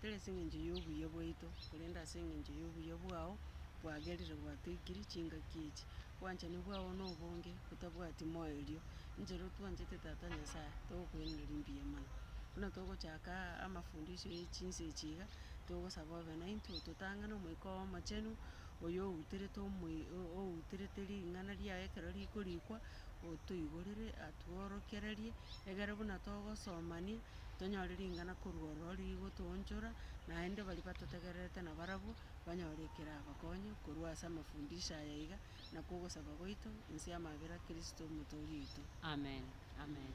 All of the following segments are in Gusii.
tari ase eng'encho y'obuya bwaito, korende ase eng'encho y'obuya bwao bwagerire gwatoikiri chingaki echi. Obwanchani bwao na obonge botabwati moerio, ninche ere otwanchete Tata Nyasae, togokwenereri mbuya mono. Buna togochaka aa amafundisho ye chinsa echi iga, togosaba obe naintwe ototang'ane Omoika oo Omochenu, oyo outerete omoi- o- outerete ring'ana riaye ekero rikorikwa. otoigorere atworokererie, egere buna togosomania tonyore ring'ana korwa ororo rigotoonchora, naende baria batotegererete na barabwo banyore ekerabakonye korwa ase amafundisho aya iga, na kogosaba gwaito inse y'amabera a Kristo Omotoori oito. Amen. Amen.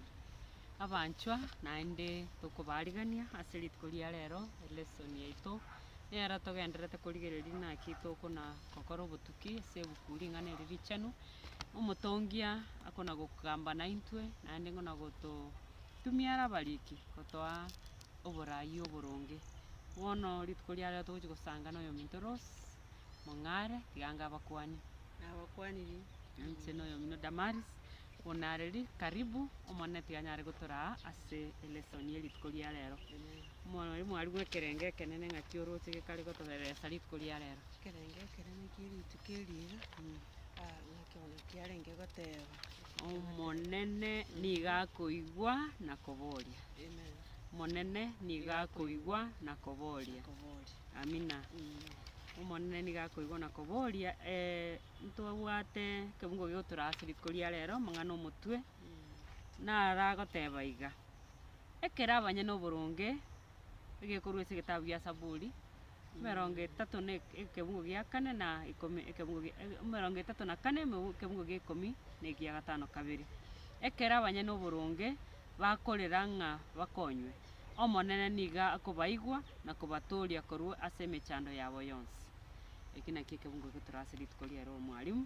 Abanchwa, naende tokobaarigania ase rituko ria rero, elesson yaito nero togendererete korigereria naki tokona gokora obotuki ase ebuku Ring'ana Eri Richenu, Omotongia akona-gokamba naintwe, naende ng'ona gototumia are abariki gotoa oboraai oboronge. Bono rituko ria rero togochia gosanga noyominto Rose Mong'are, tiga ange abakwanie. Nabakwaniri, ninche noyomino Damaris, bono nareri karibu, Omonene tiga anyare gotoraa ase elesson ye rituko ria rero. Mwariri mwarimu bw'ekerengo ekenene ng'aki oroche gekare gotobereresa rituko ria rero. Ekerengo ekenene kie rituko eri iga. Nekeono kiarenge goteeba. Omonene nigo akoigwa na koboria. Amen. Omonene nigo akoigwa na koboria. Koboria. Amina. Omonene nigo akoigwa na koboria. Eh, ntobwate ekebungo gigotura ase riko ria rero, amang'ana omotwe, naragoteba iga, ekero abanyene oboronge, egekorwa ase egetabu gia Zaburi. emerongo etato na eke- ekeungu gia kane na ikomi ekeungu gi- e- emerongo etato na kane emeu- ekeungu gia ikomi na egia gatano kabere. Ekero abanyene oboronge bakorera ng'a bakonywe, Omonene nigo akobaigwa na kobatooria korwa ase emechando yabo yonsi. Eki nakio ekeungu getore ase rituko riaye ri'omwalimu,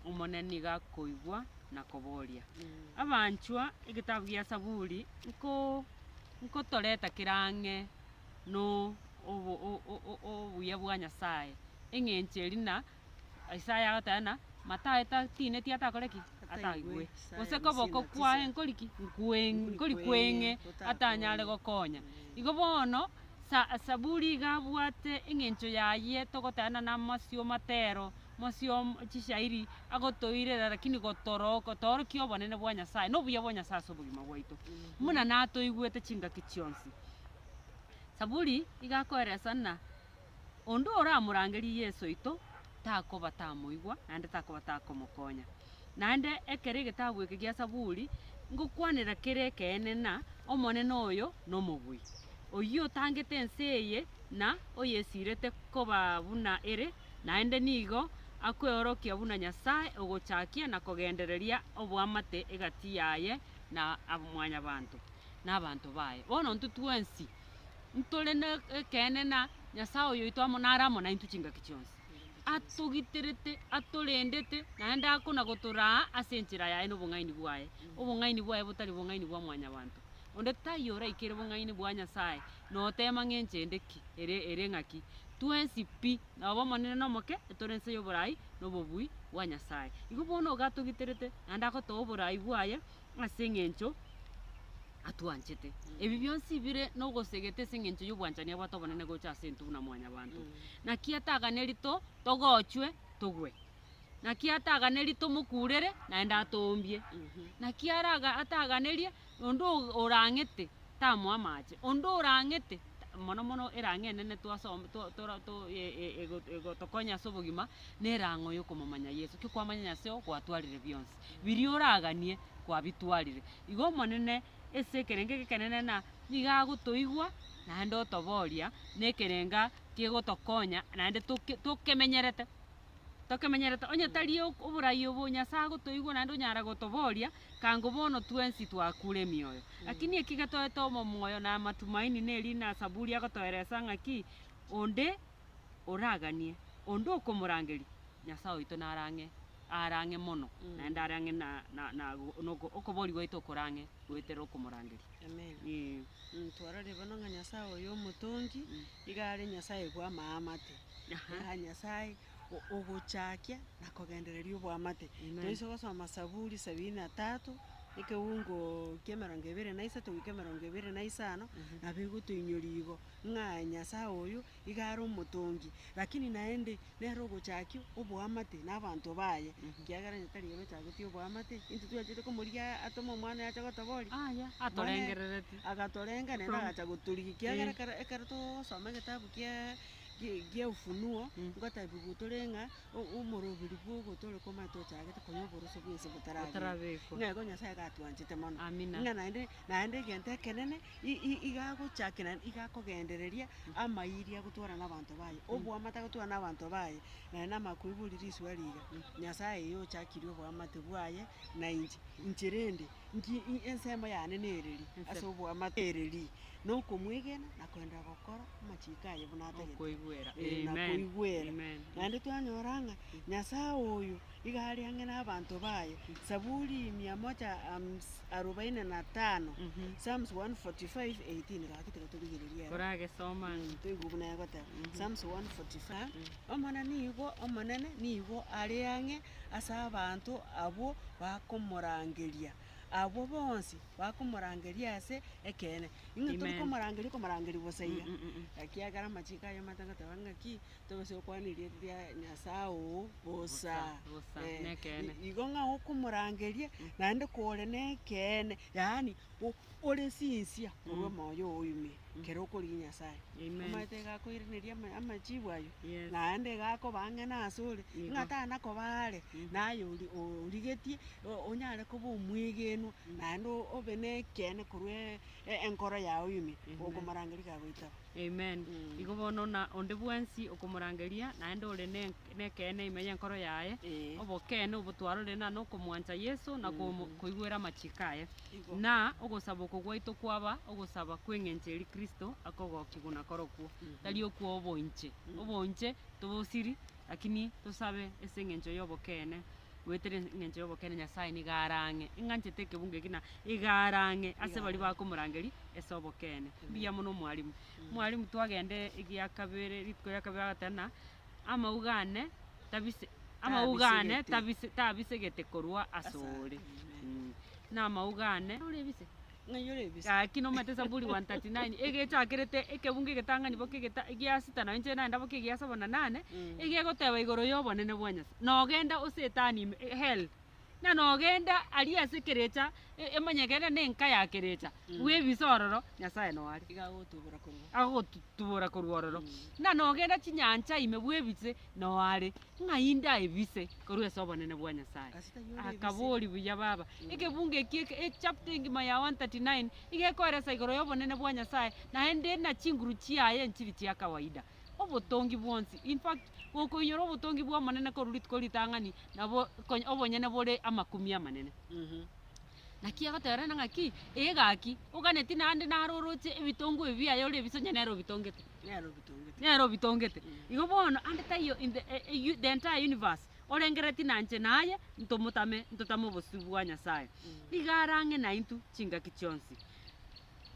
Omonene nigo akoigwa na koboria. Abanchwa, egetabu gia Saburi nko- nkotoreta kera ang'e. no obuya bwa Nyasaye, eng'encho eria na Isaya agoteba ng'a tineti atakore ki? Atagigwe, gose koboko kwaye nkori ki? Nkori kweng'e atanyare gokonya. Igo bono Zaburi iga abwate eng'encho yaye togoteba ng'a namasio amatero, amasio chishairi agotoirera lakini gotorokia obonene bwa Nyasaye, na obuya bwa Nyasaye ase obogima bwaito, buna natoigwete chingaki chionsi. Saburi igakoeresa ng'a onde oramorangerie Yeso oito takoba tamoigwa naende takoba takomokonya. Naende ekero egetabu eke gia Saburi ngokwanera kere ekeene ng'a Omonene oyo nomobui, oyio otangete ense eye na oyesirete koba buna ere, naende nigo akweorokia buna Nyasae ogochakia na kogendereria oboamate egati yaye na mwanyabanto. nabanto baye. Bono intwe twensi ntore nekeene na Nyasaye oyoito amo nare amo naintwe chingaki chionsi. Atogiterete, atorendete, naende akona gotoraa ase enchera yaye na obong'aini bwaye, obong'aini bwaye botari obong'aini bwa mwanyabanto. Onde taiyo oraikere obong'aini bwa Nyasaye noteema ng'a enchera ende ki, ere ere ng'aki. Twensi pi, nabo omonene nomoke, etore ense yoborai nobobui bwa Nyasaye. Igo bono iga atogiterete naende agotoa oborai bwaye, ase eng'encho atwanchete. Ebi bionsi bire nogosegete ase eng'encho y'obwanchani abwate obonene gocha ase intwe buna mwanyabanto. Naki ataganerito togochwe togwe, naki ataganerie tomokurere naende atoombie, naki araga ataganerie onde o- orang'ete tamoa amache, onde orang'ete mono mono erang'o enene twasoma to- tora to- e- e- ego- egotokonya ase obogima na erang'o yokomomanya Yeso. Ki kwamanya Nyaseo gwatwarire bionsi. biria oraganie kwabitwarire. Igo Omonene ase ekerengo egekenene na nigo agotoigwa naende otoboria nekerenga kegotokonya naende toke tokemenyerete tokemenyerete. Onye tari oborai obo Nyasaye agotoigwa naende onyara gotoboria kango bono twensi twakure emioyo. Lakini eki getoete omomoyo na amatumaini nerina Saburi agotoeresa ng'a ki, onde. oraganie, onde okomorangeria, Nyasae oito nare ang'e, are ang'e mono, naende are ang'e na, na, na, na oko- okobori gwaito okore ang'e goetera okomorangeria. Amina. Ee. Mm, twarorire bono ng'a Nyasae oyo omotongi, iga are Nyasae bw'amaamate. Aha. Yaani Nyasae o- ogochakia na kogendereria oboamate. Amen. Toise gosoma Saburi sabini na tatu, ekeungo kia emerongo ebere na isato goika emerongo ebere na isano, nabo egotoinyoria igo. ng'a Nyasae oyo iga are omotongi, lakini naende nere ogochakia oboamate nabaanto baye. Ekiagera onye tari ere ochagetie oboamate, intwe twachete komorigia atome omwana oye ache gotobooria, Aye atorengerereti. Agatorenga naende agacha gotorigia ekiagera Eh. ekero ekero togosoma egetabu kia gie gie Ufunuo, ngotebiwa tore ng'a o- omorobiri bwogo tore komanya tochagete konya oboroso bwense botarabekwa. Botarabekwa. Ng'a igo Nyasae iga atwanchete mono. Amina. Ng'a naende. naende egento ekenene i- i- igagochaki naende igakogendereria amayiri agotwara na abanto baye, oboamate agotwara na abanto baye, naye na amakwebori risuo riga, Nyasaye eye ochakirie oboamate bwaye na inche, inche rende nki i- ensemo yane nere ri ase oboamate ere ri, na okomwegena na koenderera gokora amachiko aye buna atagete. Okoigwera. Ee, na Amen. koigwera. Amen. Naende twanyora ng'a Nyasaye oyo. Iga aria ang'e nabaanto baye. Saburi mia moja hams- arobaini na tano, Psalms 145, 18. Gaki tiga torigererie ere. Koragesoma ng'a. Toigwe buna egoteba. Psalms 145, Omonene nigo omonene, nigo are ang'e ase abanto abwo bakomorangeria, abwo bonsi bakomorangeria ase ekeene. Ing'e Amen. torikomorangeria okomorangeria bosa iga, ekiagera amachiko aye amate goteba ng'aki, tobe sa okwana eria ria Nyasae oo bosa. Bosa, Eh, nekeene. i- igo ng'a okomorangeria, naende kore nekeene, yaani o- ore sinsia korwa omoyo oo ime, kere okorigia Nyasae. Amen. Omanyete egakoiraneria ama- amachibu ayio, Yes. naende egakobaa ng'ana asore, Nigo. ng'a tanakoba are, naye ori- origetie o- onyare koba omwegenwa, naende o- obe nekeene korwa e- e- enkoro yago ime, Amen. okomorangeria kagoitaba. Amen. Igo bono na onde bwensi okomorangeria naende ore ne- nekeene ime y'enkoro yaye, Eh. obokeene obo twarorire na nokomwancha Yeso na komo- koigwera amachiko aye. Igo. Na ogosaba oko gwaito kwaba ogosaba kw'eng'encho eria Kristo akogokigwa na korokwo, tari okwo oboinche. Oboinche tobosiri, lakini tosabe ase eng'encho y'obokeene. goetera engencho y'obokene Nyasaye nigo arang'e, ing'anchete ekebungo eke na iga arang'e ase baria bakomorangeria ase obokene. Mbuya mono mwalimu. Mwalimu twagenda egia kabere rituko ria kabere agateba ng'a amauga ane tabise amauga ane Tabisegete. tabise tabisegete korwa asore. Mh. Namauga ane. Gaki nomanyete Zaburi 139 egechakerete ekebungo egetang'ani boka egeta egia sita na enchera naende boka egia saba na nane, egegoteba igoro y'obonene bwa Nyasae, Nogenda, O Setani, ime, hell, na nogenda aria ase ekerecha e- emanye gena na enka ya kerecha, bwebise ororo, Nyasae noare. Iga agogotubora korwa. Agogotutubora korwa ororo. Na nogenda chinyancha ime bwebise noare. Ng'ai ndaebise korwa ase obonene bwa Nyasae? Akabooria, Buya baba, ekebungo eki eke echapter engima ya 139 nigo ekoeresa igoro y'obonene bwa Nyasae, naende na chinguru chiaye nchiri chia kawaida. Obotongi bwonsi, in fact, gokoinyora obotongi bw'Omonene korwa rituko ritang'ani nabo obonyene bore amakumia amanene. Naki agoteberana ng'aki, Ee gaki, oganeti naende naro oroche ebitongo ebi biaye ore ebisonye nere obitongete. Nere obitongete. Nere obitongete. Mm. Igo bono ande taiyo in the, eh, eh, u- the entire universe orengereti na inche naye ntomotame ntotame obosio bwa Nyasaye. Nigo arang'e naintwe chingaki chionsi.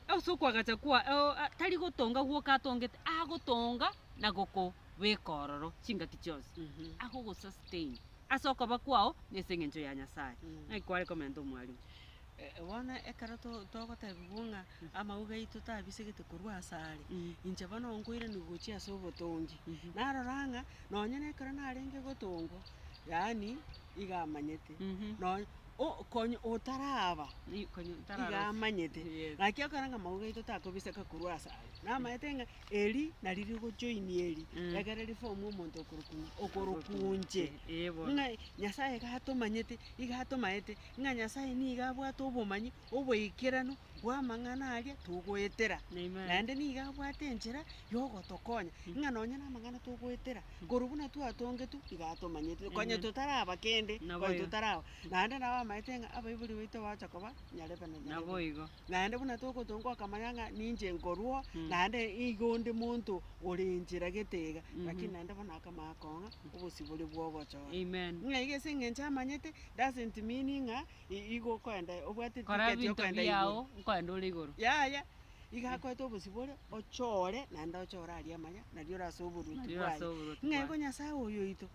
Ase okoagacha kwa, oh, ah, tari gotonga gwoka atongete, agotonga na gokobeka ororo chingaki chionsi. Mhm. Agogosustain. Ase okoba kwao nase engencho ya Nyasae, naki kware komenta omwarimu. Bono ekero togotebiwa ng'a amauga aito tabisegete korwa ase are, inche bono nkoiranigwa gochia ase obotongi, narora ng'a nonye na ekero narenge gotongwa, yaani iga amanyete, nonye konya otaraba iga amanyete, naki okore ng'a amauga aito takobiseka korwa ase are, namaete ng'a Eri nari rigochoini eri, Mm. egere riform omonto okorokwa ng'a okorokwa inche. Ee bono. Ng'a Nyasaye iga atomanyete, iga atomaete, ng'a Nyasaye nigo abwate obomanyi, oboikeranu bw'amang'ana aria togoetera. Amen. Naende nigo abwate enchera yogotokonya, ng'a nonye namang'ana togoetera, korwa buna twatongetwe, iga atomanyete, konya Amen. totaraba kende, Nabo konya igo. totaraba. Naende nabo amaete ng'a abaibori baito bagocha koba nyarebe na nyarebe. Naboigo. naende buna togotonka okamanya ng'a ninche nkorwa oo, naende iga onde monto ore enchera gete iga, lakini naende bono akamanya kong'a obosibore bwa ogochora. Amen. Ng'a iga ase eng'encho amanyete, doesn't mean ng'a i- igo okoenda obwate Kora ticket ebinto yokoenda igoro. biao nkoende ore igoro. Yaya, iga akoete obosibore, ochore, naende ochore aria amanya, nario ore ase oboruoti Nario ore ase bwaye. oboruoti Ng'a igo bwaye. Nyasae oyoito.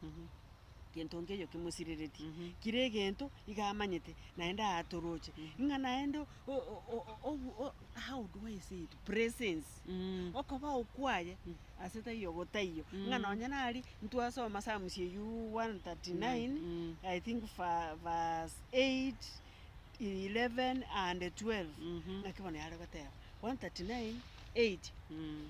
Gento nkeiyo kimosiriretie, kire egento iga amanyete, naende aatoroche, ng'a naende o- o- o- o- obu- o- how do I say it? presence Mm. okobao kwaye ase taiyo gotaiyo, ng'a nonye nari ntwasoma Psalms eyio 139 Mm. I think va- verse 8, 11 and 12 Mhm. ng'aki bono yare goteba 139 8 Mm.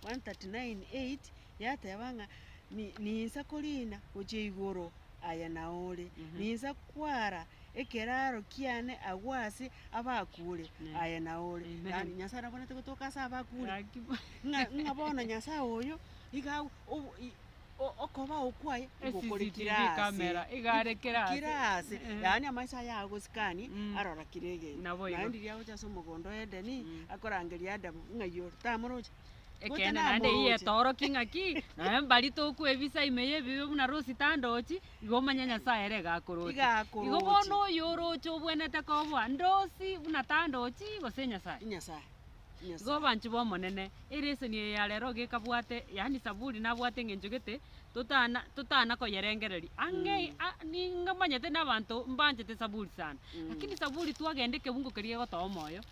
139 8 yateba ng'a "Ni- ninsa koriina gochia igoro aye naore, ninsa kwara ekeraro kiane agwo ase abakure aye naore. Amen. Yaani Nyasaye nabwenerete gotoka ase abakure. Gakima. Ng'a- ng'a bono Nyasaye oyo iga au- obo- i- o- okobao kwaye igokore CCTV kire ase. camera, igare kire ase. Kire ase. Eh. Yaani amaiso aye agosikanie, Mm. arora kire egento. Naboigo. Naende riria agocha ase omogondo o Edeni, akorangeria Adamu ng'a iyiore, tamoroche. Ekeene naende eyio yetoorokia ing'aki, nonya mbari tokwebisa ime y'ebibe buna Rosi tandochi, igo omanye Nyasae ere iga akoroche. Iga akoroche. Igo bono oyo oroche obwenerete koboa ndosi buna tandochi gose Nyasae. Nyasae. Igo oboanchi bw'Omonene, eleseni eye ya rero iga ekabwate, yaani Saburi nabwate eng'encho gete, totana totana koyerengereria. Ang'e a- ninga manyete na abanto mbanchete Saburi sana, lakini Saburi twagenda ekebungo keria gegotoa omoyo,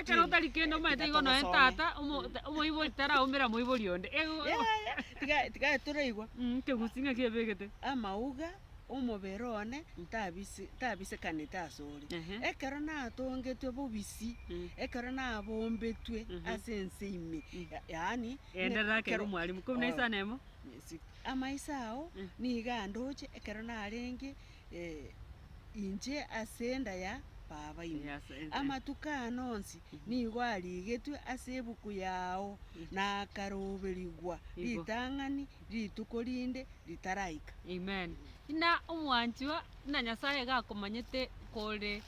ekero otari kende omanyete igo nonye tata omo- ta- omoibori taraumera moibori onde ego Mm, ekegusi ng'a kebegete. amauga omobere one ntabise tabisekanete ase ore. Ehe. Ekero natongetwe bobisi, Mm. ekero nabombetwe Mhm. ase ense ime, Mm. ya- yaani Enderera kere kero- omwalimu, kobua na Oh. isana emo. Amaiso ao Mm. nigo andoche ekero narenge. inche ase enda ya Baba ime. Amatuko aane onsi nigo arigetwe ase ebuku yao, na akaroberigwa ritang'ani rituko rinde ritaraika. Amen. Ng'a omwanchwa ng'a Nyasaye iga akomanyete kore.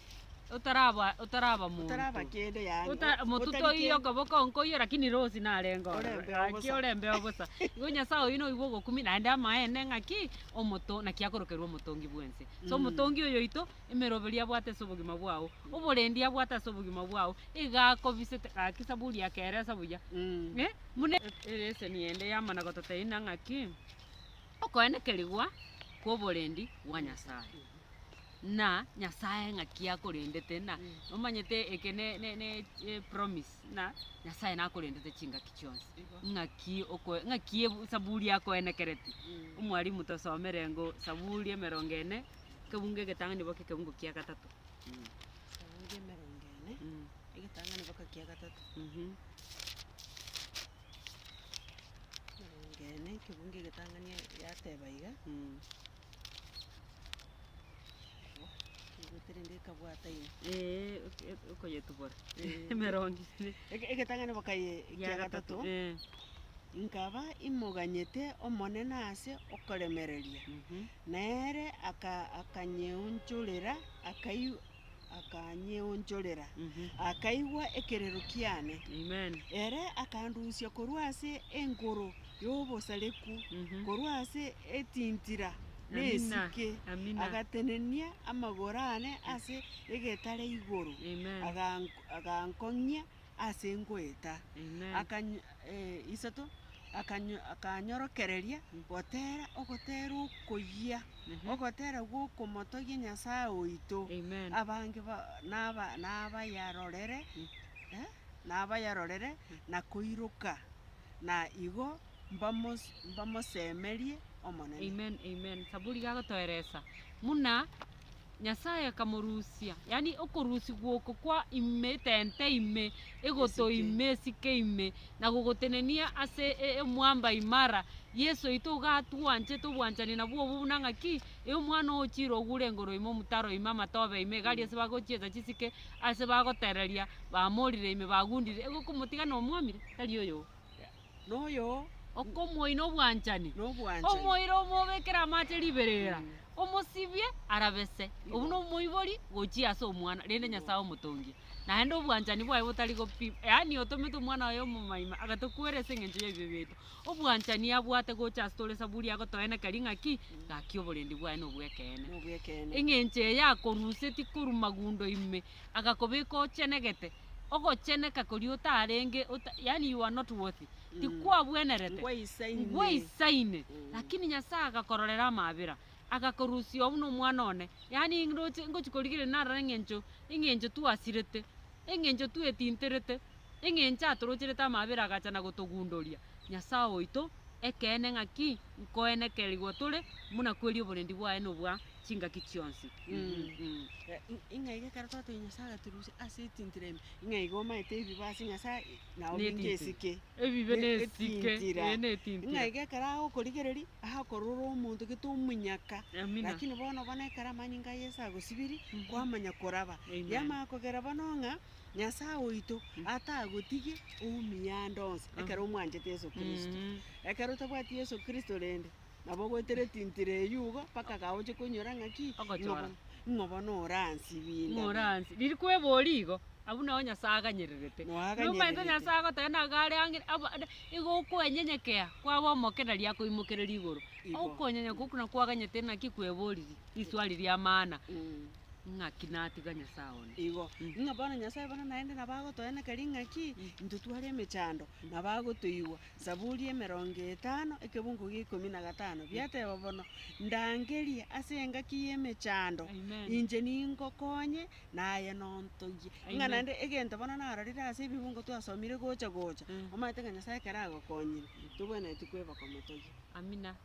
otaraba otaraba monto. Otaraba kende yaani. Ota- o- motuto otari oiyo kende. okoboko onkoiyo lakini rosi narenge ore. Orembe Gaki obosa. orembe obosa igo nyasae oyi noyi bwogokumia naende amaene ng'aki omoto naki akorokerwa omotongi bwense so omotongi oyo oito emeroberi abwate ase obogima bwao oborendi abwate ase obogima bwao iga akobisete gaki saburi yakeresa buya Mm. eh buna ereseni ende yamana gototeina ng'aki okoenekerigwa kwa oborendi bwa nyasae. na Nyasae ng'aki akorendete na nomanyete eke ne ne ne epromise ng'a Nyasae nakorendete chingaki chionsi, Igo. ng'aki okoe ng'aki ebu esaburi yakoenekereti. Mm. Omwalimu tosomere ngo Saburi emerongo ene, ekebungo egetang'ani boka ekebungo kia gatato. Saburi emerongo ene, Mm. egetang'ani boka kia gatato. Mhm. Emerongo ene, ekebungo egetang'ani yateba iga, Mm. Egoterenge ekabwata ime. Ee, ok- ok- okoyetubora Eh. emerongo ere. Ege- Egetang'ani bokaye ekia gatato, eh, nkaba imoganyete Omonene ase okoremereria, Mhm. na ere aka- akanyeonchorera, akai- akanyeonchorera, akaigwa ekerero kiane. Ere akandusia korwa ase enkoro y'obosareku, korwa ase etintira nesike, agatenenia amagoro aane ase egetare igoro, agankong'ia ase ngoeta, Amen. akanyo eh, isato, akanyo akanyorokereria gotera ogotera okoyia, Mhm. ogotera gw'okomotogia Nyasae oito, Amen. abange ba- naba nabayarorere, eh, nabayarorere na koiroka, na igo mbamos- mbamosemerie Omonene. Amen, amen. Saburi gagotoeresa buna Nyasae akamorusia, yaani okorusia gw'oko kwa ime, etente ime, egoto Esike. ime, esike ime, na gogotenenia ase e- emwamba imara. Yeso oito iga atwanchete obwanchani nabwo obwo buna ng'a ki? E omwana o chiira ogure engoro ime omotaro ime amatobe ime iga aria ase bagochieta chisike ase bagotereria bamorire ime bagundire igo okomotiga nomwamire tari oyogo. noyo okomoina obwanchani, omoire omobekere amache riberera, omosibie arabe se, obuna omoibori gochia ase omwana, rende Nyasae omotongia, naende obwanchani bwaye botari gopi, yaani otomete omwana oye omomaima agatokwera ase engencho y'ebibe biaito, obwanchani abwate gocha ase tore saburi agotoenekeria ng'aki, ngaki oborendi bwaye nobwa ekeene. Engencho eye akorusetie korwa magundo ime, agakobeka ochenegete. ogocheneka koria otarenge, yaani you are not worthy, tikwabwenerete, ngwaisaine, lakini Nyasae agakororera amaabera, agakorusia oo buna omwana one, yaani ndoche ngochia korigereria narora eng'encho, eng'encho twasirete, eng'encho twetinterete, eng'encho atorocherete amaabera agacha na gotogundoria, Nyasae oito ekeene ng'aki, nkoenekerigwa tore, buna kweri oborendi bwaye nobwa. chingaki chionsi. Ing'a iga ekero twatogia Nyasae agaturusia ase etintiro ime, ing'a iga omaete ebibe ase Nyasae na obinge esike. Ebibe na esike, ee, na etintiro. Ing'a iga ekero agokorigereria, akorora omonto gete omonyaka. Amina. Lakini bono bono ekero amanyinga a Yeso agosibirie, kwamanya koraba. Amen. Yamanya kogera bono ng'a Nyasae oito atagotige oumia ande onsi ekero omwanchete Yeso Kristo. Ekero otabwati Yeso Kristo rende, Nabo goetera etintiro eyio igo, mpaka gaoche koinyora ng'aki? Ogochora. Ng'o bono oransibie indabe? Ng'o oransibie? Riria kweboria igo, abwo nao Nyasae aganyererete. Nao aganyererete. Nomanyete Nyasae agoteba ng'a nigo are ang'e, aba, ade, igo okwenyenyekea kwaba omoke nari akoimokereria igoro. Igo. Okonyenyeka okwo nakwo kwaganyete naki kweboririe riswari ri'amaana, Mm. ng'aki natiga Nyasae one? Igo. Ng'a bono Nyasae bono naende nabo agotoeneka ring'aki? Intwe tware emechando, nabo agotoigwa. Zaburi emerongo etano, ekebungo gia ikomi na gatano, biateba bono, Ndangerie ase engaki y'emechando, inche ningokonye, naye nontogie. Ng'a naende egento bono narorire ase ebibungo twasomire gocha gocha, omanyete ng'a Nyasaye ekero agokonyire, tobwenereti kweboka motogie. Amina.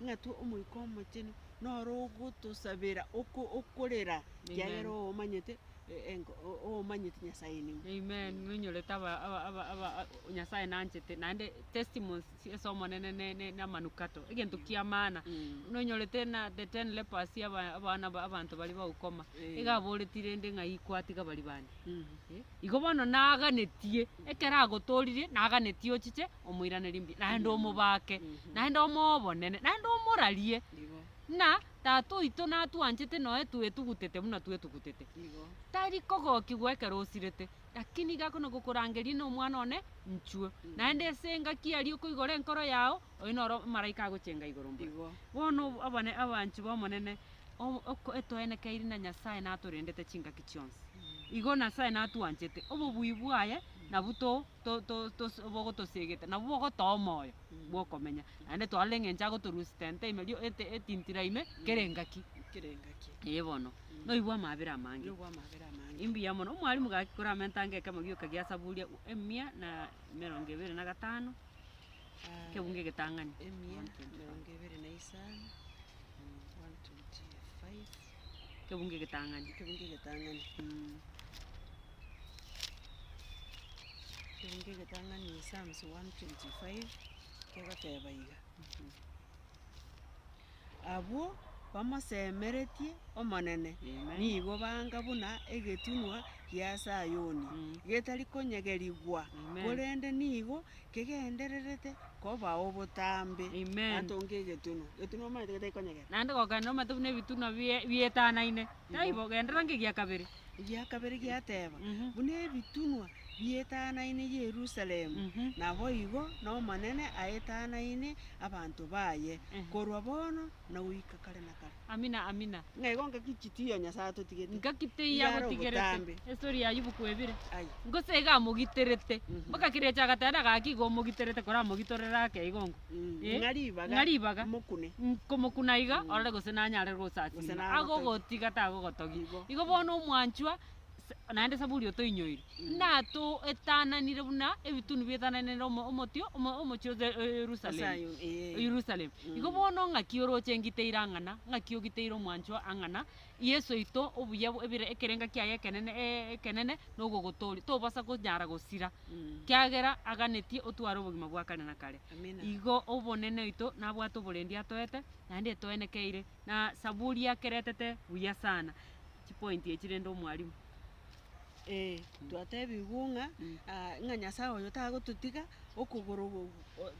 Ing'atwe Omoika Omochenu noro ogotosabera oko okorera, ekiagera Amen. oomanyete e- enko- o- oomanyeti Nyasaye nigo. Amen, ng'a onyorete aba- aba- aba- aba- a- Nyasaye nanchete, naende testimonies as'Omonene ne- ne- namanukato, egento kia maana. Mm. Buna onyorete na the ten lepers aba- abana ba abanto baria ba ukoma, Eh. iga aboreti rende ng'a iko atiga baria bande. Mm. Eh, igo bono naganetie, ekero agotoririe, naganetie ochiche omoiranerie mbuya, naende omobake, naende omoobonene, naende omorarie, Igo, ng'a tata oito natwanchete noe twetugutete buna twetugutete. igo, Tari kogokigwa ekero osirete, lakini iga kona gokorangeria na omwana one nchwe, naende ase engaki aria okoigora enkoro yao, oyo noro omomalaika agochenga igoro mbore. igo, Bono obo- abane abanchwa b'Omonene, o- oko- etoenekeiri na Nyasae natorendete chingaki chionsi. Igo Nasae natwanchete, obobui bwaye nabwo to. to- to- tos bogotosiegete, nabwo bogotoa omoyo bw'okomenya. Naende twarora eng'encho agotorusia tente ime rio ete etintira ime kera engaki. kera engaki. Ee bono, noibwe amabera amange. Noibwe amabera amange. Imbuya mono, omwalimu gaki kore amentanga ekemo gioka gia Saburi eku- emia na emerongo ebere na gatano, Ah, ekebungo egetang'ani. emia, 125. emerongo ebere na isano, 125. Ekebungo egetang'ani. Ekebungo egetang'ani. Ekebungo egetang'ani in Psalms 125 kegoteba iga, Abwo bamosemeretie Omonene nigo banga buna egetunwa gia Sayoni, getari konyegerigwa, korende nigo Kegendererete koba obotambe. Amen. Atonge egetunwa. Getunwa omaete gete gikonyegera. Naende gokenera omaete buna ebitunwa bie- bietanaine. Taibo, genderera ngegia kabere. Egia kabere giateba, Mhm. Buna ebitunwa bietanaine Yerusalemu, Mhm. naboigo n'Omonene aetanaine abanto baye, Ehe. korwa bono na goika kare na kare. Amina, Amina. Ng'a igo ngaki chitiyo Nyasae atotigete. Ngaki teiyo Yare agotigerete. obotambe. Estori ya Ayubu kwebire. Aye. Gose iga amogiterete. Mhm. Mpaka kera eche agateba naga gaki igo omogiterete koramogitorere ake igo nko. Mm, Eh, ng'a ribaga. ng'a ribaga. Mokune. Nkomokuna iga orore gose nanyare Gose gosasima. nagotebia. Agogotiga tagogotogia. Igo. Igo bono omwanchwa. naende Saburi otoinyoire, natoetananire buna ebitunu bietananire omo- omotio omo- omochie o Ze- o Yerusalemu. Sayoni, eh. O Yerusalemu. Igo bono ng'aki oroche ngiteire ang'ana, ng'aki ogiteire omwanchwa ang'ana, Yeso oito obuya bwe- bire ekerenga kiaye ekenene e- ekenene nogogotoria, tobasa konyara gosira, kiagera aganetie otware obogima bwa kare na kare. Amina. Igo obonene oito nabwate oborendi atoete, naende etoenekeire, na Saburi akeretete buya sana. chipoint echi rende omwalimu. Eeh twatebigwe ng'a ah ng'a Nyasaye oyo tagototiga okogoro oo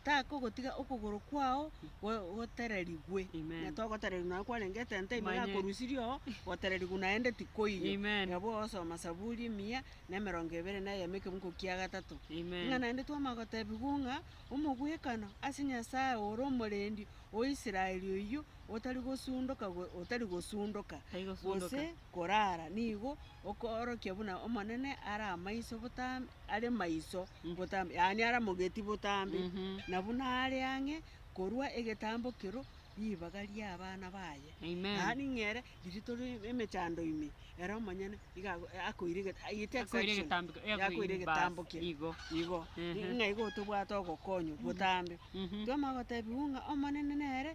takogotiga okogoro kwao go- gotererigwe. Amen. Ng'a togotererigwa nonya kwarenge etente ime Manye. yakorusirie oo, gotererigwa naende tikoiyo. Amen. Nabo ogosoma Saburi emia, na emerongo ebere na eyemo ekebugu kia gatato. Amen. Ng'a naende twamanya gotebigwa ng'a, omogwekano ase Nyasaye ore omorendi o Israel oyio. otari gosundoka go- otari gosundoka Tari gosundoka. gose korara, nigo okoorokia buna Omonene are amaiso botambe, are maiso botambe, yaani are mogeti botambe, Mhm. na buna are ang'e korwa egetambo kero ribaga ri'abana baye. Amen. Yaani ng'a ere riria tore emechando ime, ere omonyene iga ago- akoira egeta- agite Akoira exception, egetambiko- eh, yakoira bas, egetambo kere. igo. Igo, Ehe. ng'a igo tobwate ogokonywa botambe. Mhm. Twamanya gotebiwa ng'a Omonene nere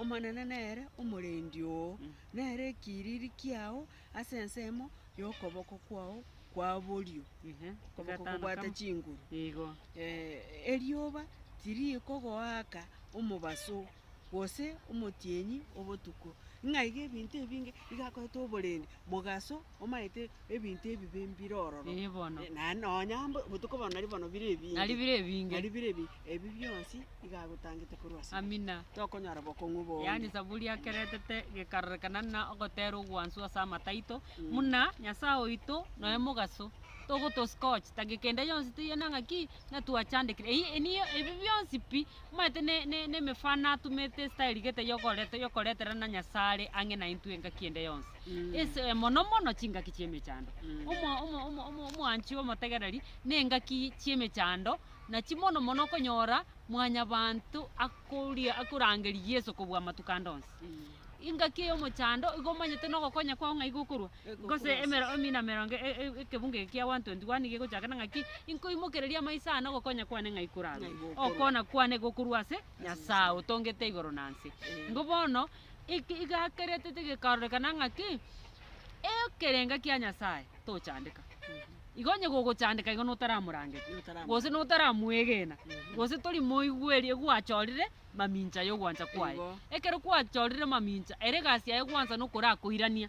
Omonene nere omorendi oo, nere ekiriri kiao ase ensemo y'okoboko kwao kwa borio, okoboko kobwate chinguru. Erioba tirikogoaka omobaso, gose omotienyi obotuko. Ng'aiga ebinto ebinge bigakorete oborendi, mogaso omaete ebinto ebibe mbire ororo. Ee bono. Naende nonya mbo botuko bono nari bono bire ebinge. Nari bire ebinge. Nari bire ebinge. Ebi bionsi iga agotangete korwa ase. Amina. Tokonyora bokong'u bonge. Yaani Zaburi akeretete gekarorekana ng'a ogotera ogwansu ase amato aito, muna Nyasae oito noe mogaso, togotosika ogochita gekende yonsi toyiena ng'a ki, Ng'a twachandekire, eyio eniyo ebi bionsi pi omanyete ne- ne- nemefano atumete esitaerigete yokoreta yokoreterana Nyasare ang'e naintwe engaki ende yonsi. Ese mono mono chingaki chi'emechando. Omo- omo- omo- omo- omwanchi omotegereri, na engaki chi'emechando, nachi mono mono okonyora mwanyabanto akoria akorangeria Yeso kobua amatuko ande onsi. Engaki eyomochando igo omanyete nogokonya kwao ng'a igo okorwa, gose emero emi na merongo e- e- e- ekebunga eke kia 121 nigo egochakana ng'aki, Inkoimokereria amaiso aa na ogokonya kwane ng'ai korarwe, okoona kwane gokorwa ase Nyasae otongete igoro na nse. Nigo bono eke igakeretete gekarorekana ng'aki, ekerenga kia Nyasae tochandeka. Igo onye gogochandeka igo notaramorangeri, gose notaramwegena, gose tori moigweri egwachorire mamincha yogwancha kwaye. Ekero kwachorire mamincha, ere egasi yaye gwansa nokorakoirania.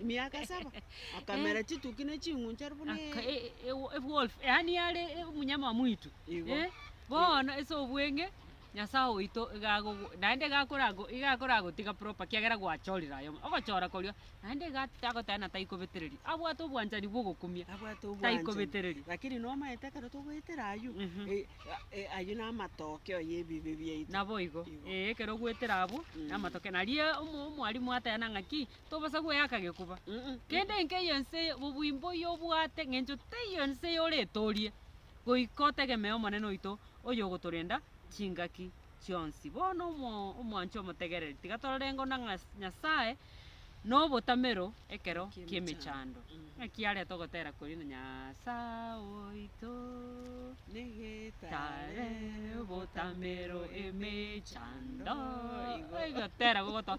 Emiaka saba, akamera chituki ne ching'unchari buna e- Aka- e- e- ewo- ewolf yaani yare e- omunyama wa mwitu Igo. eh, bono ase obweng'e nyasae oito iga agogo naende iga akorago iga akoragotiga proper kiagera gwachorire aye omwe ogochora koria naende iga at- agoteba ng'a taikobetereria abwate obwanchani bwa ogokumia abwate obwanchani. taikobetereria Lakini nomaete ekero togoetera aywo, Mhm. eh, a- eh, aywo na amatokeo ya ebibe biaito. naboigo Igo. eh, ekero ogoetera abwo Mm. namatoke naria omo- omwarimu ateba ng'a ki tobasa gweaka gekoba. Kende enke yense obwimbo yobwate ngencho teiyo ense yore etorie. Goika otegemee Omonene oito oyogotorenda chingaki chionsi. Bono omwanche omotegereri tiga torarengo na Nyasaye nobotamero ekero kiemechando. Naki areta ogotera koria na Nyasaye oito nigitare botamero emechando. Egotera gogotoa.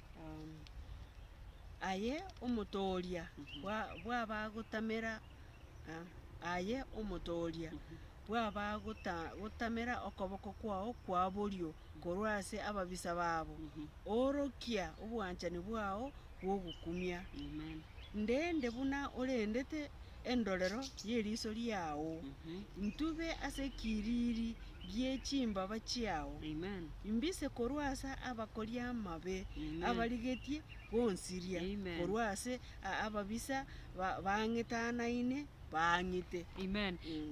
Aye omotooria bw'abagotamera, aye omotooria bw'abagotamera okoboko kwao kwa borio korwa ase ababisa babo, oorokia obwanchani bwao bw'ogokumia. Ndende buna orendete. endorero y'eriiso riao, intube ase ekiriri gie chimbaba chiao, imbise korwa ase abakoria amabe, abarigetie gonsiria korwa ase ababisa bang'itanaine baang'ite.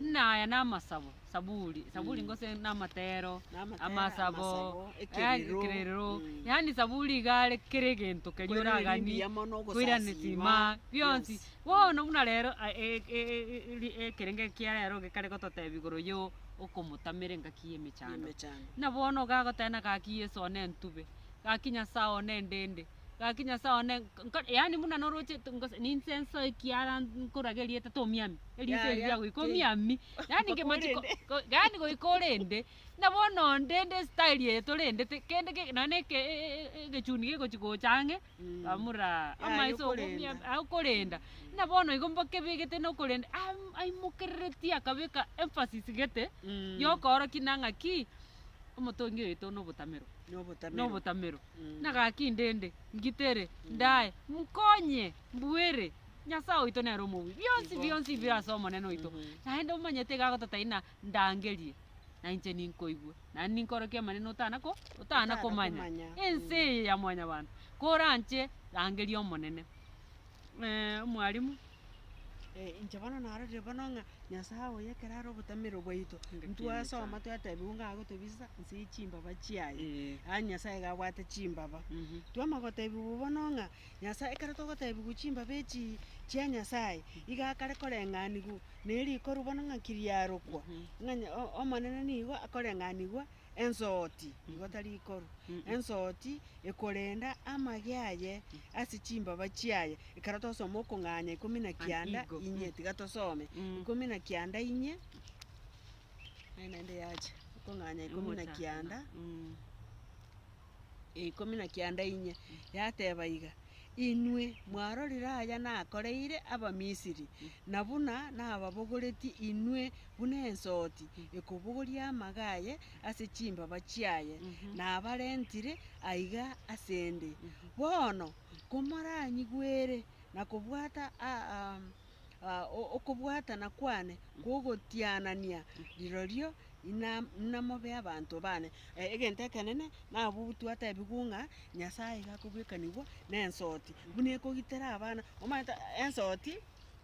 Naya namasabo Saburi, saburi Mm. gose na amatero, Namatera, amasabo, amasabo, eh, ekerero. ekerero. Mm. Yaani saburi iga are kera egento keria Kwerire oraganie, ringiya mono, koirania ogosasiima. sima, bionsi. Yes. Bono buna rero a- e- e- e- ri- ekerenge kia rero gekare gototebia igoro ya o- okomotamera engaki ya emechando. Emechando. Buna bono iga agotebena gaki Yeso one ntube, gaki Nyasae one ndende, gaki Nyasae one nk- nko- yaani buna noroche t- ngose ninsenso ekiara nkorage erieta tomiami, erieta Yaya, eria goika ki- omiami. Yaani Goika ngemanchi ko- orende. ko- yaani goika orende, na bono onde nde style eye torendete, kende ke- nonye na eke e- e- e- e- egechuni gegochi gocha ang'e, Mm. bamura Yaya amaiso ogo- okorenda. mia- ah, okorenda. Buna bono igo mbakebegete na okorenda, am- aimokereretie akabeka emphasis gete, Mm. yokoorokia na ng'aki, omotongi oyoito na obotamero, Na na obotamero. obotamero. Mm. Nagaki ndende, ngitere, ndae, nkonye, mbuere. Nyasae oito nere omobui, bionsi Igo. bionsi bire ase Omonene oito, naende omanyete iga agototaini na ndangerie, na inche ninkoigwe, naende ninkore ekiamanene otana ko otana komanya. Otanakomanya. Ense eye ya mwanyabanto, koranche rangeria Omonene. Eh, omwalimu. Eh, inche bono narorire bono ng'a Nyasae oye ekero are obotamero bwaito, Nge ntwasoma kinyesani. twatebiwa ng'a agotobisa nse ye chimbaba chiaye, Eh. yaani Nyasae iga abwate chimbaba. Mhm. Twaama gotebiwa bono ng'a. Nyasae, ekero togoteebigwa chimbabe echi chia Nyasae, iga akare koreng'anigwa nerikoru bono ng'aki riarokwa, ng'a nya- o- Omonene nigo akoreng'anigwa ensoti, igo tari ikoru, ensoti ekorenda amage aye ase chimbaba chiaye. Ekero twasoma okong'anya ikomi na kianda Igo, mm. inye, tiga tosome, Mm. ikomi na kianda inye, naende yacha, okong'anya ikomi na kianda. Mm. ya ikomi na kianda inye, yateba iga, Inwe mwarorire aya nakoreire Abamisiri, na buna nababogoretie inwe buna ensoti ekobogoria amaga aye ase chimbaba chiaye, nabarentire aiga ase 'nde. Bono komoranyigwere na kobwata a- am- a- o- okobwatana kwane kw'ogotianania rirorio Ina, inamobe abanto baane. Egento ekenene nabobutwa atebigwe ng'a Nyasaye iga akobwekanigwa nensoti, buna ekogitera abana. Omanyete ensoti,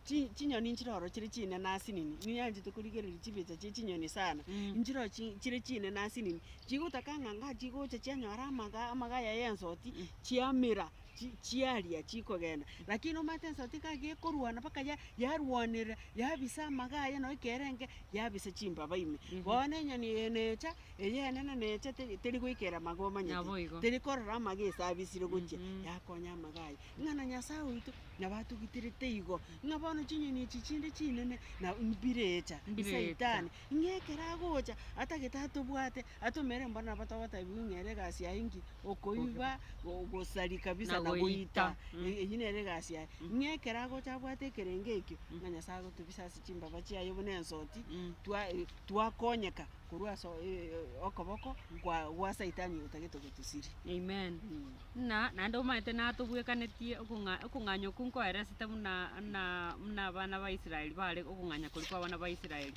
chi chinyoni nchire oro chire chinene ase nini, nigo yanchete korigereria chibicha chie chinyoni sana, nchire oro chi chire chinene ase nini, chigotaka ng'a ngachigocha chianyora amaga amagaya ya ensoti, chiamera. chi, chiaria chikogenda, lakini omanyete ensato tikaga gekorwana mpaka ya- yarwanerera, yabisa amaga aye na ekerenge, yabisa chimbaba ime. Bono enyoni eye necha, eyenene necha teri teri goikera amaga omanyete, Naboigo. teri korora amaga ase abisire gochia, Mhm. yakonya amaga aye. Ng'a na Nyasae oito, nabo atogitirete igo, ng'a bono chinyoni echi chinde chinene, na mbirecha, Mbirecha. saitani, ng'a ekero agocha, atagete atobwate, Atomere mbore nabo togotebiwa ng'a ere egasi yaye enki, okoiba, gosari kabisa na goita, eyio nere egasi yaye. Ng'a ekero agocha abwate ekerengo ekio, ng'a Nyasae agotobisa ase chimbaba chiaye buna ensoti, twa twakonyeka korwa ase okoboko kwa gwa saitani oyo otagete gotosiri. Amen. Ng'a naende omanyete natobwekanetie okong'a okong'anya okwo nkoeresete buna buna buna abana ba Israel bare okong'anya koria kwa abana ba Israel.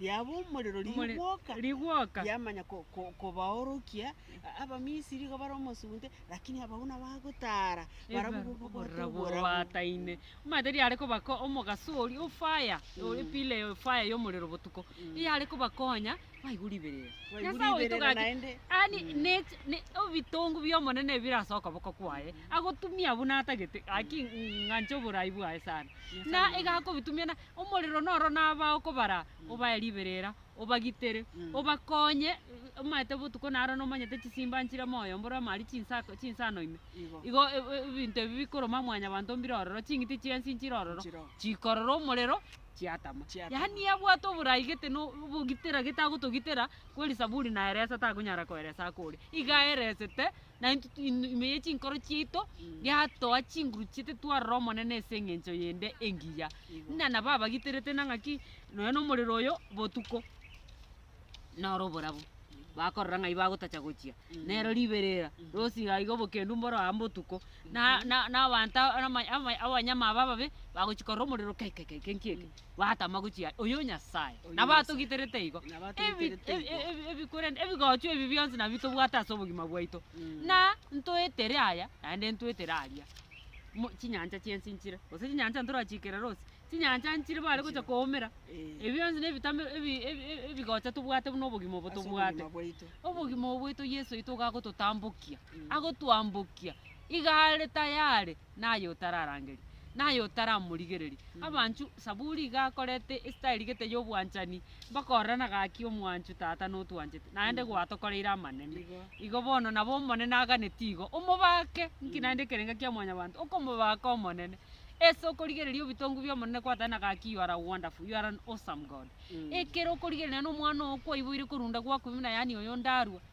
Yaba omorero Omore- rigwoka, rigwoka. yamanya ko- ko- kobaorokia a- Abamisiri iga bare omosunte, lakini abao nabagotaara barabwo Ebarabwo bobwate oborora oborabwo. bwataine omanyete riare kobako omogaso oria ofaya ore pile ya ofaya ya omorero botuko eyare kobakonya baigwe riberera Baigwe Nyasae oito riberera gaki naende. ani nech- ne- ebitongu bia omonene ebire ase okoboko kwaye agotumia buna atagete gaki ng'anche oborai bwaye sana na iga akobitumia na. Omorero noro naba okobara, obae riberera, obagitere, obakonye, omaete botuko naro nomanyete chisimba nchire moyo mbore amari chinsa chinsano ime. Igo e- e- ebinto ebi bikoroma Mwanyabanto mbire ororo, ching'iti chiansi nchire ororo, chikorora omorero, chiatama. Yaani yabwate oborai gete no obogitera gete agotogitera, kweri Zaburi naeresa takonyara koeresa akore, iga aeresete. na intwe tu- in- ime ye chinkoro chiaito yatoa chinguru chiaito twarora Omonene ase eng'encho yende engiya. Igo. Ng'a nabo abagiterete na ng'aki nonya nomorero oyo botuko noro oborabu, bakorora ng'ai bagotacha gochia Mm. nero riberera Mm. rosi iga iga obokendu mboro aa mbotuko na- na- nabanto ama- ama- abanyama aba ababe bagochi korora omorero kai kai kai kai nki eke. Batama gochia aye, oyo Nyasae. Oyo Nabo Nyasae. atogiterete igo. Nabo Ebi- atogiterete ebi- igo. ebi- ebi- korende ebigochwa ebi bionsi nabio tobwate ase obogima bwaito. Mm. Na ntoetere aya, naende ntoetere aria. Mo- chinyancha chi'ense nchire, gose chinyancha ntorachikera rose, chinyancha nchire bare gocha Nchire. koumera. Eh. Ebi bionsi na ebitamero ebi- ebi- ebi- ebigocha tobwate buna obogima obo Ase tobwate. obogima bwaito. Obogima obo bwaito Yeso oito igo agototambokia, Mm. agotwambokia, iga are tayari. na aye otararangeria, na aye otaramorigereria. Abanchu, Saburi iga akorete estyle gete y'obwanchani, bakorana gaki omwanchu tata notwanchete, naende gwatokoreire amanene. Igo bono nabo omonene aganeti igo, omobake, nki naende ekerenga kia mwanyabanto, okomobaka omonene, ase okorigereria obitongu bi'omonene kwatana gaki you are a wonderful, you are an awesome God. Ekero okorigereria nomwana oo kwaiboire korunda gwakobimina yaani oyonde arue,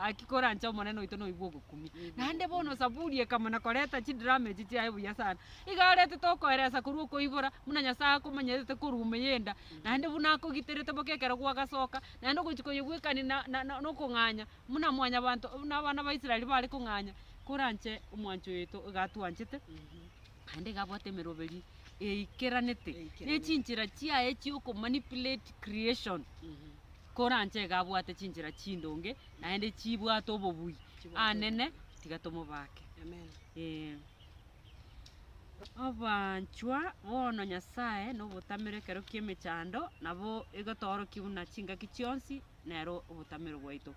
Gaki koranche Omonene oito noigwe ogokumia. Naende bono Zaburi ekamana koreta chidrama echi chiaye buya sana. Iga aretete okoeresa korwa okoibora, buna Nyasae akomonyerete korwa ime y'enda, naende buna akogiterete boka ekero gwagasoka, naende ogochia koyegwekania na- na- na- na okong'anya, buna mwanyabanto buna abana ba Israel bare kong'anya. Koranche omwancho oito iga atwanchete, naende iga abwate emeroberi eikeranete, ne Eikeranete. chinchera chiaye chi'okomanipulate creation. koranche iga abwate chinchera chindonge, naende chibwate obobui. Anene, tiga tomobake. Ee. Abanchwa, bono Nyasae nobotamero ekero ki'emechando, nabo igo toorokia buna chingaki chionsi nero obotamero bwaito.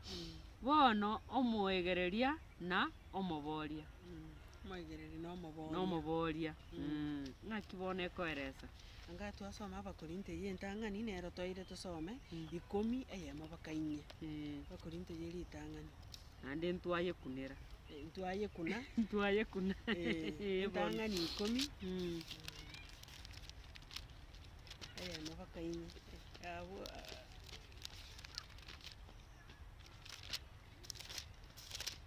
Bono omoegereria na omoboria. Omoigereri na omobooria. na omobooria, ng'aki bono ekoeresa? Anga twasoma Abakorinto eyio entang'ani, nero toire tosome ikomi eyemo mpaka inye. Ee, Abakorinto eyio ritang'ani. naende ntwayekunera. Eh, Ntwayekuna, Ntwayekuna. eh, Ee, bono. entang'ani ikomi Mm. eyemo mpaka inye. Eh, abwo, ah,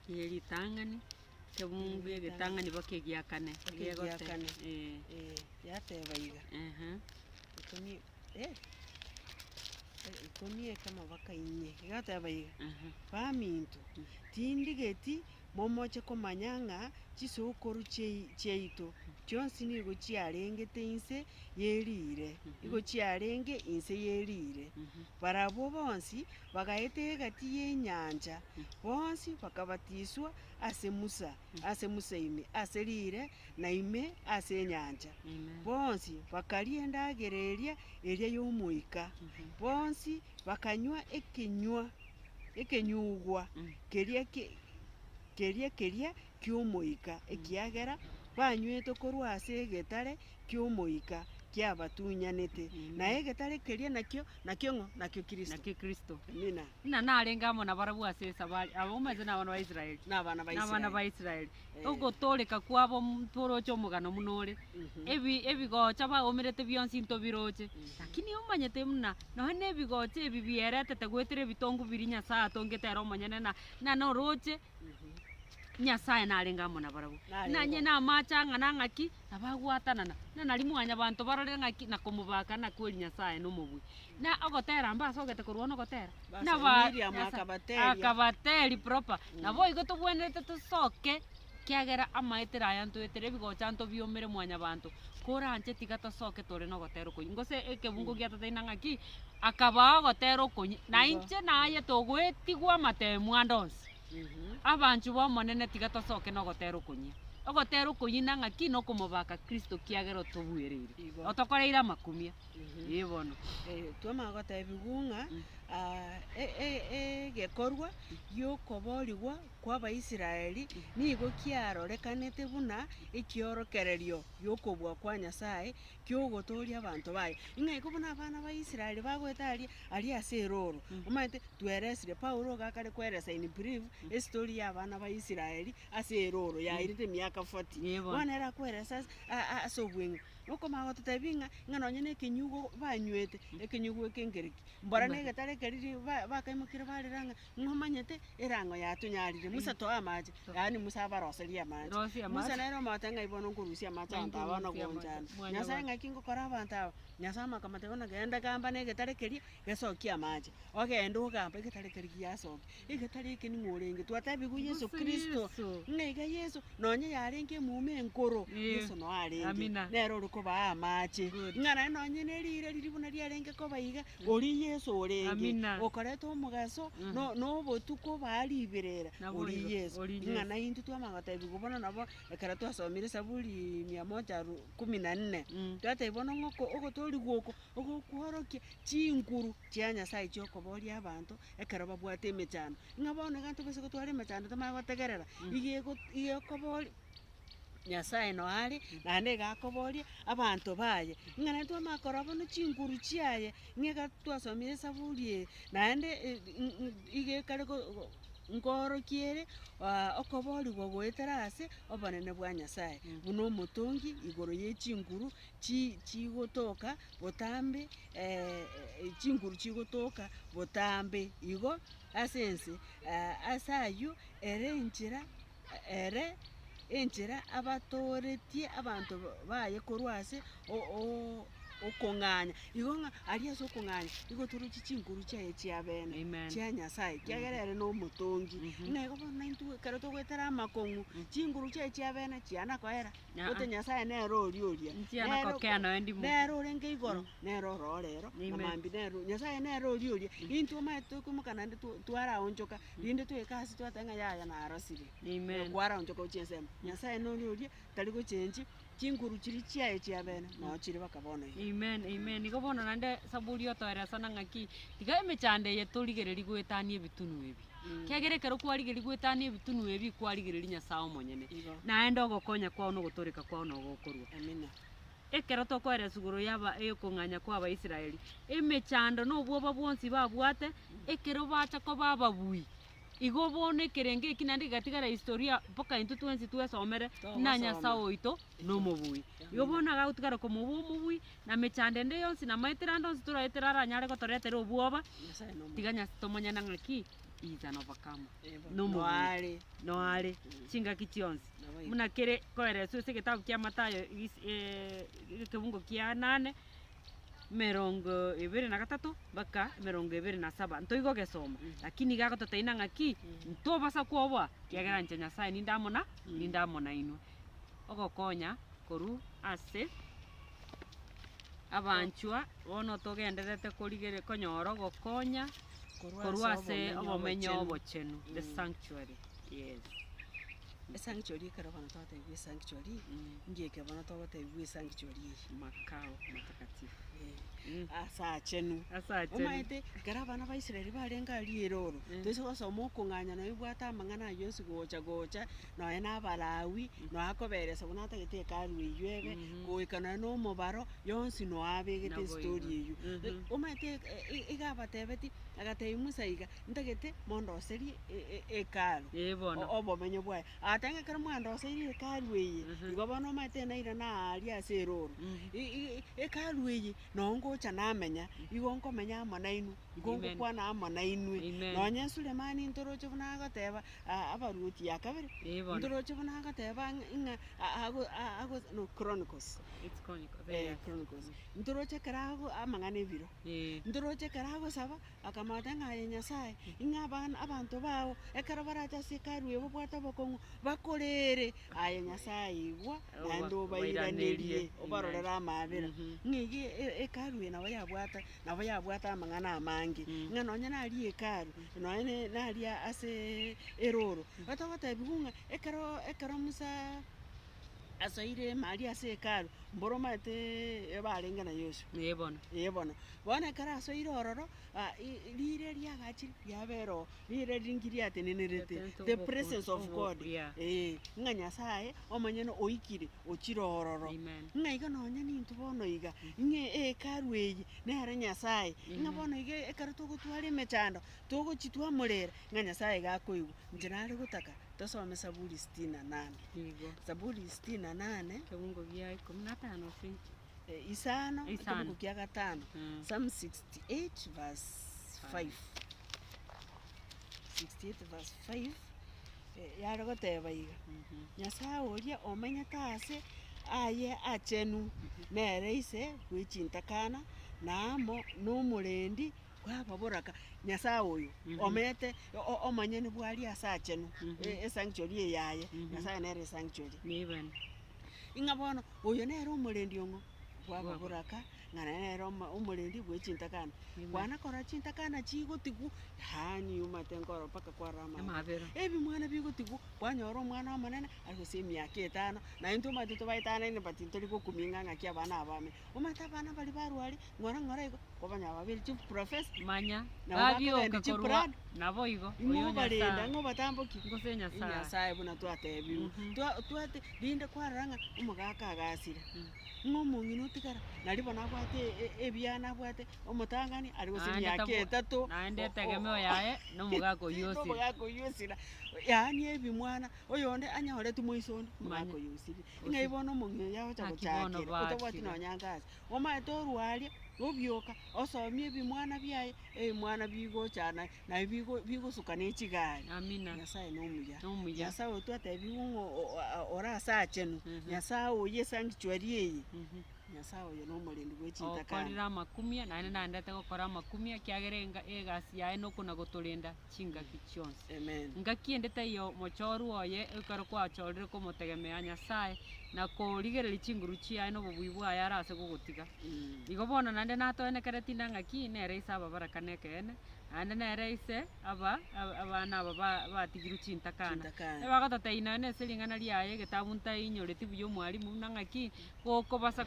Eye ritang'ani. Tebungu egetang'ani boka egiakane. Egiakane. Ee. Yateba iga, Ikomi, eh, ikomi ekemo boka inye. Egateba iga, Baminto, tindigeti momoche komanya ng'a chisokoro chiaito chionsi nigo chiarengete inse ye riire, nigo chiarenge inse ye riire, barabwo bonsi. Bagaeta egati y'enyancha, bonsi bakabatiswa ase Musa, ase Musa ime ase riire, na ime ase enyancha. Bonsi bakaria endagera eria eria y'Omoika, bonsi bakanywa ekenywa ekenyugwa keria ki- keria keria ki'Omoika, ekiagera banyweto korwa ase egetare. ki'omoika kiabatunyanete, na egetare keria nakio nakio ng'o? Nakio Kristo. Nakio Kristo. Amina. Ng'a narenge amo nabarabwo ase esabari, aba omanyete nabana ba Israeli. Nabana ba Israeli. Nabana ba Israeli. Eh. Ogotooreka kwabo ntworoche omogano buna ore. Mhm. Ebi ebigocha baomerete bionsi ntobiroche. Mhm. Lakini omanyete buna nonya nebigocha ebi bieretete goetera ebitongu biria Nyasae atongete ere omonyene na na noroche. Nyasae narenge amo nabarabwo, buna inye namaache ang'ana ang'aki, na bagwatanana, buna nario mwanyabanto barorire ng'aki na komobaka na kweri Nyasae nomobui. Na ogotera mbe ase ogete korwana ogotera? Buna ba- Miriamu Nyasae- akabateebia. akabateri proper, naboigo tobwenerete tosoke, kiagera amaetera aya ntoetera ebigocha ntobiomere mwanyabanto, kore anche tiga tosoke tore nogotera okoyia, gose ekebungo giatoteine ng'aki. akabaa ogotera okonya, na inche naye togoetigwa amateemu ande onsi. Abanchwa b'Omonene, tiga tosoke nogotera okonyia. Ogotera okonyia na ng'aki? Nokomobaka Kristo kiagera otobuereire, otokoreire amakumia. Ee bono. Twamanya gotebigwa ng'a egekorwa gi'okoboorigwa kw'Abaisraeli nigo kiarorekanete buna ekiorokererio gi'okobua kwa Nyasae ki'ogotooria abanto baye. Ing'aiko buna abana ba Israel bagoeta aria aria ase erooro. Omanyete, tweresire, Paulo iga akare kweresa in brief, estory ya abana ba Israel ase erooro yairete emiaka forty. Yebo. Bono ere akwerese ase a- a- ase obweng'u. Okomanya gototebia ing'a, ing'a nonye na ekenyugo banywete, ekenyugo eke nkereki? Mbora na Mbare. egetara ekeri ri- ba- bakaimokirie barera ng'a Ng'a omanyete erango yatunyarire, Musa toa amache, yaani Musa abaroserie amache. Rosia amache. Musa nere omote ng'a bono nkorusia amache Ng'a abanto aba nkorusia amache. nogonchana. Mwana Nyasae bwange. ng'aki ngokora abanto aba? Nyasae omaka amateba ng'a genda gamba negetare keria gesokia amache. Ogenda ogamba egetare keria giasoki. Egetare eke ning'o orenge? Twatebigwe Yeso Mbusa Kristo. Yeso. Ng'a iga Yeso, nonye yarenge emuma enkoro, Eh. Yeso noyo arenge. Amina. Nere ore kobaa amache. Good. Ng'a naende nonye ne riire riria buna riarenge koba iga, Oria Yeso orenge okoreta omogaso na obotuko baa riberera. Oria Yeso. Ing'ana eyio intwe twamanya gotebigwa bono nabo ekero twasomire Zaburi mia moja aru kumi na nne. Twatebigwa bono ng'a oko ogotoorigwa oko ogokworokia chinguru chia Nyasae chia okoboria abanto ekero babwate emechando. Ng'a bono egento boiso gotware emechando tomanye gotegerera, igo ego igo ekoboria. Nyasaye noyo are, naende iga akoboria abanto baye, ng'a naende twamanya korora buna chinguru chiaye, ng'a ekero twasomire esaburi eye, naende iga ekare go- go- goorokia ere okoboorigwa goetera ase obonene bwa Nyasaye, buna omotongi igoro ye chinguru chi- chigotoka botambe chinguru chigotoka botambe igo ase ense, ase ayio ere enchera ere enchera abatooretie abanto baye korwa ase okong'anya. Igo ng'a aria ase okong'anya nigo otorochie chinguru chiaye chia bene Amen. chia Nyasaye, ekiagera ere nomotongi. Ng'a igo bono naintwe ekero togoetera amakong'u, chinguru chiaye chia bene chiana koera, Aa-a. gose Nyasaye nere oria oria. Nchiana Nere- kokea noe ndimo. nere orenge igoro, nere ororo rero, Amen. amambia nere o- Nyasaye nere oria oria. Intwe omanyete tokoimoka naende to- twaraonchoka. Rinde toike ase twateba ng'a yaya narosire, Amen. kwaraonchwa korwa chinsemo. Nyasaye nore oria tari gochenchi chinguru chiria chiaye chia bene, nao chire baka bono iga. Amen, amen. Igo bono naende Saburi otoeresana ng'aki, tiga emechando eye torigererie goetania ebitunu ebi. Kiagera ekero kwarigeria goetania ebitunu ebi, kwarigereria Nyasaye omonyene, Igo. naende ogokonya kwao na ogotooreka kwao nogokorwa. Amina. ekero tokoera esuguru y'aba- ey'okong'anya kw'Abaisraeli, emechando na obwoba bwonsi babwate ekero bacha koba ababui. Igo bono ekerengo eki naende gegatigara historia mpaka intwe twensi twesomere ng'a Nyasae oito nomobui. Igo bono nigo agotigara komoua omobui, na mechando ende yonsi na amaetera ande onsi toraetera aranyare gotoretera obwoba, tiga Nyas- tomonyene ng'a ki? He is an overcomer. Nomobui. Noare. Chingaki chionsi. buna kere koereswa ase egetabu kia Mathayo egis ekebungo kia nane, emerongo ebere na gatato mpaka emerongo ebere na saba. Ntoigo ogesoma, lakini iga agototeina ng'aki, ntobasa koboa, ekiagera inche Nyasae ninde amo na, ninde amo nainwe. Ogokonya korwa ase abanchwa, bono togendererete korigere konyora ogokonya korwa ase obomenyo obochenu, the sanctuary. Yes. Esangichori ekero bono twatebiwa esangichori, mbuya eke bono togotebiwa esangichori eye. Makao matakatifu. Ee, ase achenu. Ase achenu. Omaete, ekero abana ba Israel barenge aria erooro, toise gosoma okong'anya nonya obwate amang'ana ayio onsi gocha gocha, nonya na Abalawi, nonya akoberesa buna atagete Hekalu eyio ebe, goika nonya na omobaro, yonsi nonya abegete Naboigo. estory eyio. Omaete e- e- iga abatebetie, agatebi Musa iga, ntagete mondoserie e- e- Hekalu, Ee bono. o- obomenyo bwaye. Agateba ng'a ekero mwandoseirie Hekalu eye, Mhm. igo bono omanyete naira naaria ase erooro. Mhm. I- i- i- Hekalu eye, noo ngocha namenya, igo nkomenya amo nainwe, igo Amen. ngokwana amo nainwe. Amen. Nonye Sulemani ntoroche buna agoteba, a- abaruoti ya kabere, Ee bono. ntoroche buna agoteba ng'a- ng'a a- ago- a- ago- no, Chronicles. It's chronic- Eh, very nice. Chronicles. Ntoroche ekero ago- amang'ana ebiro. Ndoroche ekero agosaba, akamanyete ng'a aye Nyasae, ng'a abana, abanto bao, ekero barache ase Hekalu eye bobwate obokong'u, bakorere, Aye Nyasae, igwa, naende obairanerie, obarorere amaabera. Ng'a iga Hekalu eye nabo yabwate, nabo yabwate amang'ana amange, ng'a nonye nari Hekalu, nonye ne- nari ase erooro, otogotebiwa ng'a ekero, ekero Musa. asoire ime aria ase Hekalu, mboro omanyete ebe arenge na Yeso. Ee bono. Ee bono. Bono ekero asoire ororo, a- i- i- riire erio agachire riabera oo, riire riria nki riatenenerete? Riatenenerete The obokong'u- presence of obo- God. yeah. Eeh, ng'a Nyasaye omonyene oikire ochire ororo. Amen. Ng'a iga nonya nintwe bono iga, ng'a Hekalu eye nere Nyasaye, ng'a Amen. bono iga ekero togotwara emechando, togochitwa amorere, ng'a Nyasaye iga akoigwa. Inche nare gotaka. Tosome Saburi sitini na nane. Nigo. Saburi sitini na nane. Ekebugo gia ikomi na tano ki? Isano, Isano. ekebugo kia gatano. Mm. Psalm 68 verse 5. 68 verse 5. eh, Yare goteba iga. Mhm. Nyasae oria omenyete ase aye achenu, nere ise bw'echintakana, na amo nomorendi Bwaba boraka, Nyasae oyo, omeete omonyene bw'aria ase aachenu, esanctuary eyaye, Nyasae nere esanctuary. Ing'a bono oyo nere omorendi ong'o? Bwaba boraka, ng'a nere omorendi bwe chintakana. Kwana korora chintakana chigotigwa, yaani omanyete nkorora mpaka kwarora amaabera. Ebimwana bigotigwa, kwanyora omwana omonene, arusie emiaka etano, naintwe omanyete tobaetanaine but ntori gokumia ing'a ng'aki abana aba ame. Momate abana baria barware, ng'ora ng'ora igo, kobanya babere chiprofesa. Manya, babioke korwa naboigo, oyo Nyasae, ngose Nyasae. Nyasae buna twatebiwe. Twati, rinde kwarora ng'a omogaka agasire, ng'a omong'ina otigara, nari bono abwate ebiana abwate omotang'ani are gose emiaka etato. Naende etegemeo yaye nomogaka oyio osire. Nomogaka oyio osire, yaani ebimwana. Oyonde anyoretwe moiso onde, omwaka oyo osire. Ng'ai bono omong'ina oyo agocha Haki bono gochakera, bakire. otabwati nonya anga ase. Omanyete orwaria, obioka, osomie ebimwana biaye, ebimwana bigochana, naye bigo bigosuka ne chigari. Amina. Nyasaye nomuya. Nomuya. Nyasaye oyo twatebigwe ng'o o- a- ore asachenu, Nyasaye oye esanctuary eye, Nyasaye oyo nomorendi bwe chintakana. Okorire amakumia, naende nandete gokora amakumia, ekiagera enga- egasi yaye nokona gotorenda. chingaki chionsi. Ngaki ende taiyo mochooru oye ekero kwachoorire komotegemea Nyasae na korigereria chinguru chiaye na obobui bwaye are ase gogotiga. Igo bono naende natoenekere tinde ngaki nere ise ababarakani ekeene, naende nere ise aba abana aba batigirwe chintakana. Ebagotata inwe na ase ring'ana riaye egetabu ntainyoritie buya omwalimu buna ngaki gokobasa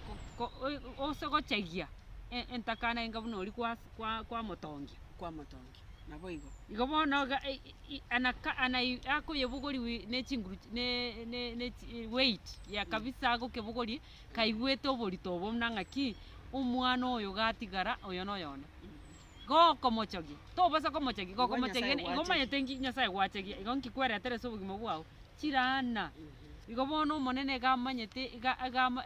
ose gochagia entakana enga buna oria kwamotongia. naboigo. Igo bono akoyebogorigwe nechinguru weight ya kabisa agokebogorie kaigwete oborito obo buna ng'aki omwana oyo gatigara oyo noyo one. Gokomochogia tobasa komochogia gokomochogia igo omanyete ng'aki nyasaye gwachegia igo ng'aki kweretere ase obogima bwao chiraana. Igo bono omonene iga amanyete iga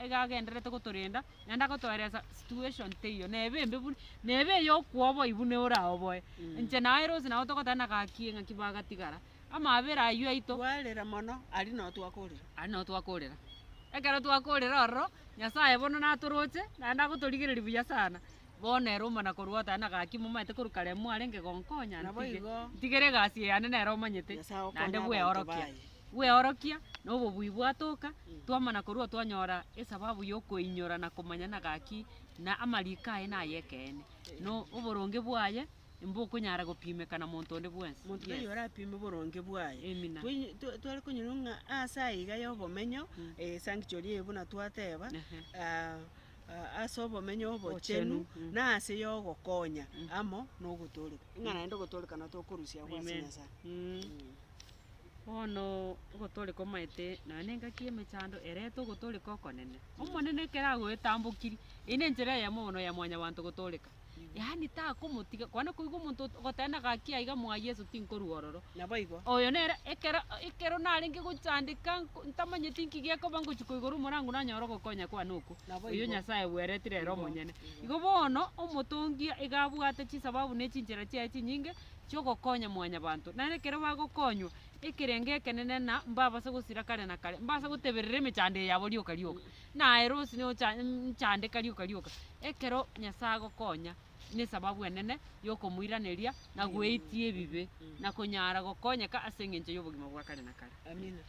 iga agendererete gotorenda. naende agotoeresa situation teiyo neba embe buna, neba eye okwoboi buna oraoboe. Inche naye Rosie nabo togoteba na gaki ng'aki bagatigara, amabera aywo aito, Kwarera mono, aria nao twakorera. aria nao twakorera. Ekero twakorera ororo, Nyasaye bono natoroche, naende agotorigereria buya sana, bono ere omana korwa oteba na gaki momaete korwa kare mwarenge gonkonya Nabo ntige, igo. ntigere egasi eye yane nere omanyete, Nyasae okonye naende abanto bweorokia. baye. Bweorokia na obobui bwatoka, twamana korwa twanyora esababu y'okoinyora na komanya na gaki ng'a amariko aye nay'ekeene, na oboronge bwaye mbokonyara gopimeka na monto onde bwensi. Monto tari orapime oboronge bwaye. Amina. Twainyo- twa- tware konyora ng'a ase aiga y'obomenyo, esanctuary eye buna twateba, ah, ah, ase obomenyo obochenu, Obochenu, na ase y'ogokonya amo na ogotooreka. Ng'a naende ogotooreka natokorusia abwo ase Amen. Nyasaye. Mm. Bono ogotore komaete nonya nengaki y'emechando erete ogotoreka okonene. Omonene ekero agoetambokirie, eyio nenchera eyemo bono ya mwanyabanto gotoreka. Yaani takomotiga, kwana koigwa omonto ot- ogoteba ng'a gaki aiga mwaa Yeso tinkorwa ororo. Naboigo. Oyo nere ekero ekero narenge gochandeka nko ntamanyeti nki gekoba ngochia koigora omorango nanyore ogokonya kwane okwo. Naboigo. Oyio Nyasaye bweretire ere omonyene. Igo bono, omotongi iga abwate chisababu ne chinchera chiaye chinyinge. chi'ogokonya mwanyabanto. Naende ekero bagokonywa, ekerengo ekenene na mbabase gosira kare na kare, mbabase goteberera emechando eye yabo rioka rioka, na aye rosi nocha nchandeka rioka rioka. Ekero Nyasae agokonya, nesababu enene yokomoiraneria na goetia ebibe, na konyara gokonyeka ase engencho y'obogima bwa kare na kare. Amina.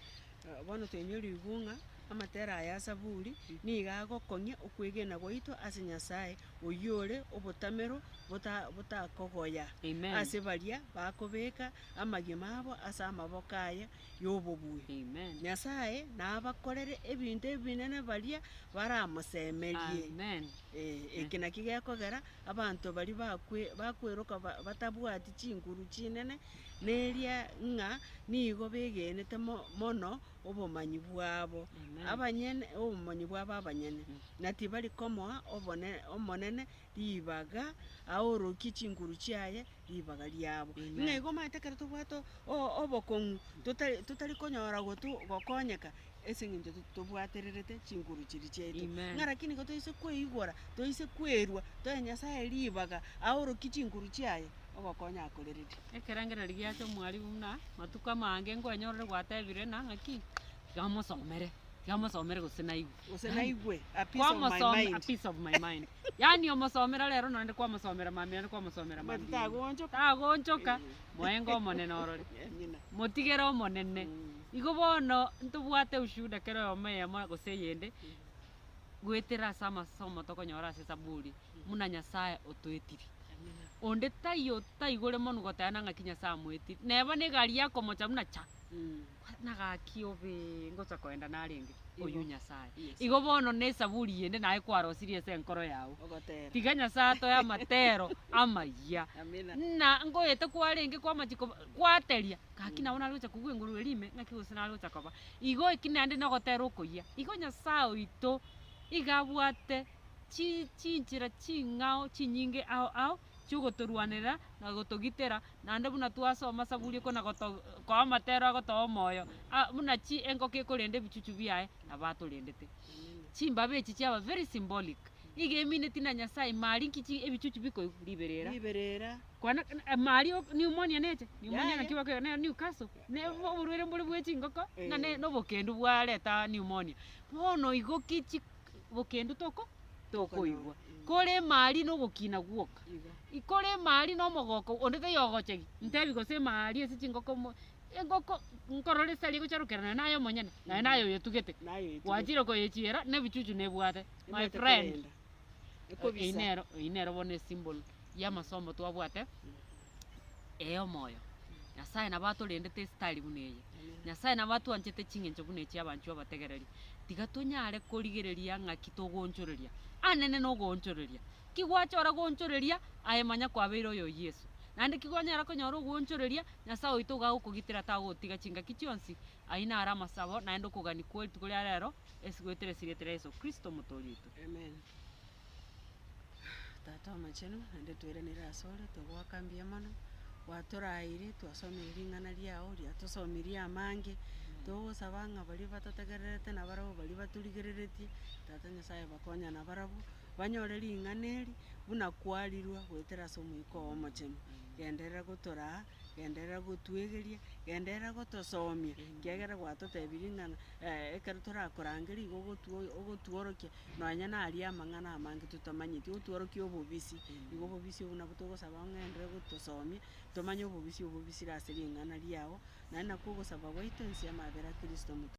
Bono toinyorigwe bung'a amatera aya a Zaburi nigo agokong'ia okwegena gwaito ase Nyasae oyore obotamero bota botakogoya Amen. ase baria bakobeka amagima abo ase amaboko aye y'obobui. Amen. Nyasaye nabakorere ebinto ebinene baria baramosemerie. Amen. Eh, eki naki gekogera abanto baria bakwe bakweroka ba- batabwati chinguru chinene, neria ng'a nigo begenete mo- mono obomanyi bwabo abanyene, obomanyi bwabo abanyene, na tibari komoa obone- Omonene ribaga, aorokie chinguru chiaye ribaga riabo. Ng'a igo omanyete ekero tobwate o- o- obokong'u totari totari konyora gotu gokonyeka, ase eng'encho to- tobwatererete chinguru chiria chiaito. Amen. Ng'a rakini igo toise kweigora, toise kwerwa, toe Nyasaye ribaga, aorokie chinguru chiaye, ogokonya akoreretie. Ekerengererio giacha omwarimu buna matuko amange nkwenyorire gwatebire ng'a ng'aki, tiga omosomere, tiga omosomere gose naigwe. Gose naigwe, a piece of my Kwamosomera, a mind. piece of my mind. Yaani omosomera rero nonye naende kwamosomera mambia naende kwamosomera Omanyete mambia. tagonchoka. Tagonchoka, Eh. moenga omonene orore. Amina. Motigere omonene. Mm. Igo bono ntobwate ushuhuda kera oyomo eyemo gose eyende, goetera ase amasomo tokonyora ase Esaburi, buna Nyasae otoetiri. Onde taiyo taigore monu goteana ng'aki Nyasae amoetiri. Neba negari yakomocha buna cha. Na gaki obe ngocha koenda narenge. Oyio Nyasae. Igo bono ne esaburi yende naye kwarosirie ase enkoro yao. Tiga Nyasae atoe amatero amayia. Buna ngoeta kwarenge kwamachi koba, kwateria, gaki nabo nare gocha kogwa enguru eria ime ng'aki gose nare gocha koba. Igo eki naende nogotera okoyia. Igo Nyasae oito iga abwate. chi, chinchera ching'ao chinyinge ao ao chi'ogotorwanerera na gotogitera, naende buna twasoma Saburi ekwo, na goto, koa amatero agotoa omoyo, a, buna chi engoko ekorenda ebichuchu biaye, nabo atorendete. Chimbabe echi chiaba very symbolic, iga emineti na Nyasae mari nki chi ebichuchu bikoigwa? Riberera. riberera. Kwana, eh, mari o- pneumonia necha, pneumonia Yaya. naki bakoiga ne Newcastle, ne bo- oborwaire mbore bwe chingoko, ng'a ne Eh. nobokendu bwareta pneumonia. Bono igo ki chi bokendu toko tokoigwa kore emari nogokina gwoka ikore emari nomogoko onde tayogochegi ntebi gose emari ase chingoko mo engoko nkorora esari egocharokera naye naye omonyene naye naye oyotugete Naye oyotugete. gwachire koyechiera nebichuchu nebwate my friend. Ekobisa. Eyio nero eyio nero bono esimbol. y'amasomo twabwate ey'omoyo. Nyasae nabo atorendete ase tari buna eye. Nyasae nabo atwanchete ching'encho buna echi abanchwa abategereri. Tiga tonyare korigereria ng'aki togoonchoreria. Anene nogoonchoreria. Ki gwachora goonchoreria? Aye manya kwabeire oyo Yeso. Naende ki gwanyara konyora ogoonchoreria? Nyasae oito iga agokogitera tagotiga chingaki chionsi. Ayio naro amasabo naende okogania kwerituko ria rero, ase goetera esiri etera Yeso Kristo Omotoori oito. Amen. Tata omochenu, naende toiraneire asore, togoaka mbuya mono, gwatoraeire, twasomeire ring'ana riao, riatosomirie amange, togosaba ng'a baria batatogererete na barabwo baria batorigereretie, Tata Nyasaye bakonya na barabwo, banyore ring'ana eri, buna kwarirwe goetera ase Omoika oo Omochenu, genderera gotoraa, genderera gotwegeria, genderera gotosomia, ekiagera gwatotebirie ng'a ekero torakorangeria igo ogotwo- ogotworokia, Nonya naria amang'ana amange totamanyeti, otworokie obobisi, igo obobisi obwo nabwo togosaba ong'ende gotosomia, tomanye obobisi obwo bobisire ase ring'ana riao, naende nakwo ogosaba gwaito inse y'amabera a Kristo omotomwa.